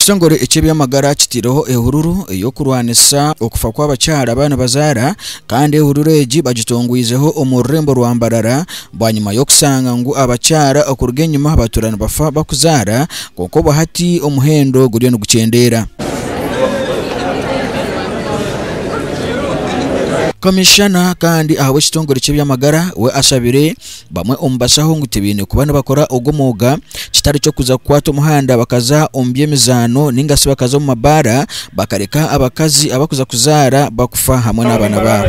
Ekitongore eky'ebyamagara kitaireho ehururu ey'okurwanisa okufa kw'abakyara abaribazaara kandi ehururu egi bagitongwizeho omu rurembo rwa Mbarara Bwanyima y'okushanga ngu abakyara okuruga enyima batuura nibafa bakuzaara, kwonka obwo hati omuhendo guriyo nigukyendeera. Komishana kandi ahabw'ekitongore ky'ebyamagara we ashabire bamwe omu bashaho ngu tibaine kuba nibakora ogwo mwooga kitari ky'okuza kukwata omuhanda bakaza omu by'emizaano ningasi bakaza omu mabaara bakareka abakazi abakuza kuzaara bakufa hamwe n'abaana baabo.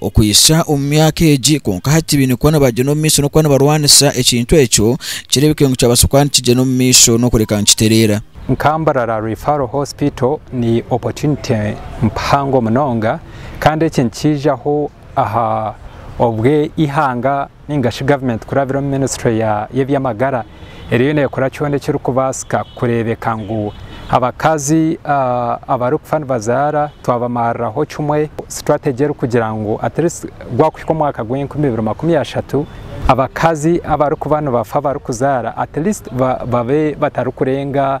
Okuhitsya omu myaka egi, kwonka hati baine kuba nibagyenda omu maisho n'okuba nibarwanisa ekintu ekyo, kireebekire ngu kyabaasa kuba nikigyenda omu maisho n'okureka nikitereera. Nka Mbarara Referral Hospital ni opportunity mpango munonga kandi eki nikiijaho aha obw'eihanga. ninga shi gavumenti kurabira omu minisitule y'eby'amagara eriyo neekora kyona ekirikubaasika kureebeka ngu abakazi abarikufa nibazaara twabamariraho kimwe sitrategi erikugira ngu atleast gwakuhika omwaka gw'enkumi ibiri makumi ashatu abakazi abarikuba nibafa barikuzaara atleast babe batarikurenga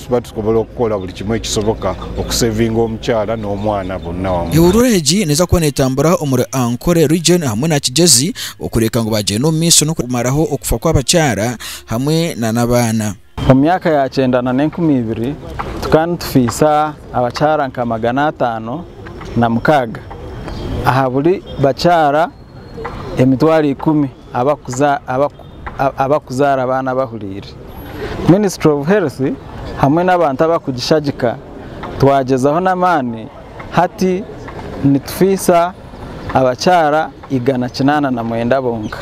Tuba tusobora kukora buri kimwe ekisoboka okusevinga omukyara n'omwana bonna wamu. Ehuruura egi neeza kuba neetambura omuri Ankole Region hamwe na Kigyezi okureeka ngu baagyenda omu maisho n'okumaraho okufa kw'abakyara hamwe na n'abaana. Omu myaka ya kyenda na n'enkumi ibiri, tukaba nitufiisa abakyara nka magana ataano na mukaaga aha buri bakyara emitwaro ikumi. abakuzaara abaana bahuriire, ministry of health hamwe n'abantu abakugishagika twagyezaho n'amaani hati nitufiisa abakyaara igana kinaana na mwenda bonka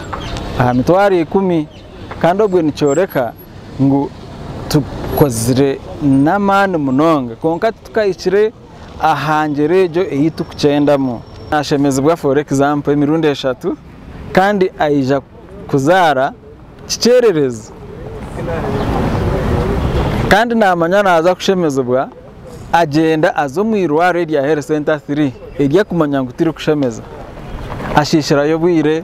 aha mitwaaro ikumi kandi obwe nikyoreka ngu tukozire n'amaani munonga kwonka titukahikire. Aha ngyero egyo ei turikukyendamu, naashemezibwa for example emirundi eshatu kandi aija kuzaara kikyererezi kandi naamanya naaza kushemezibwa agyenda aza omu eirwariro erya health center three eri akumanya ngu tirikushemeza ashiishirayo obwire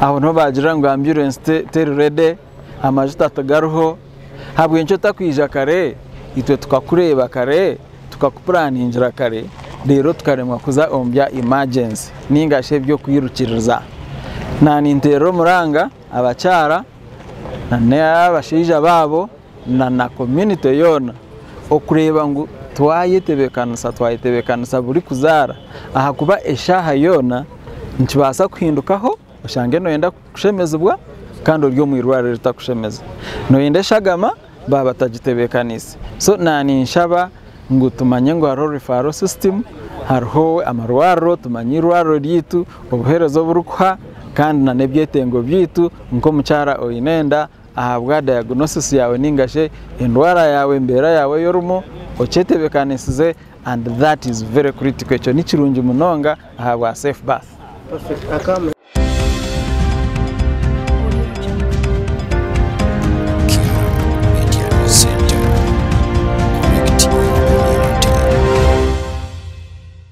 aho niho baagirira ngu ambulance teri ready. Amajuta tigariho, habw'enki otakwija kare? Itwe tukakureeba kare, tukakupuraningira kare, reero tukaremwa kuza omu bya imajensi nainga shi eby'okwirukiriza. Naaninteerera omuranga abakyara n'abashaija baabo na komyunite yoona okureeba ngu twayetebeekanisa, twayetebeekanisa burikuzaara ahakuba eshaaha yoona nikibaasa kuhindukaho. Oshange noyenda kushemezibwa kandi ori omu irwariro eritakushemeza. Noyenda eshagama baaba batagitebekaniise. So na ninshaba ngu tumanye ngu hariho referral system, hariho amarwariro, tumanye irwariro ryaitu, obuhereza oburikuha kandi na n'ebyetengo byaitu. Nk'omukyara oyine enda Ahabwa diagnosis yaawe ninga shi endwara yaawe embeera yaawe ei orimu okyetebekanisize and that is very critical ekyo ni kirungi munonga ahabwa safe birth.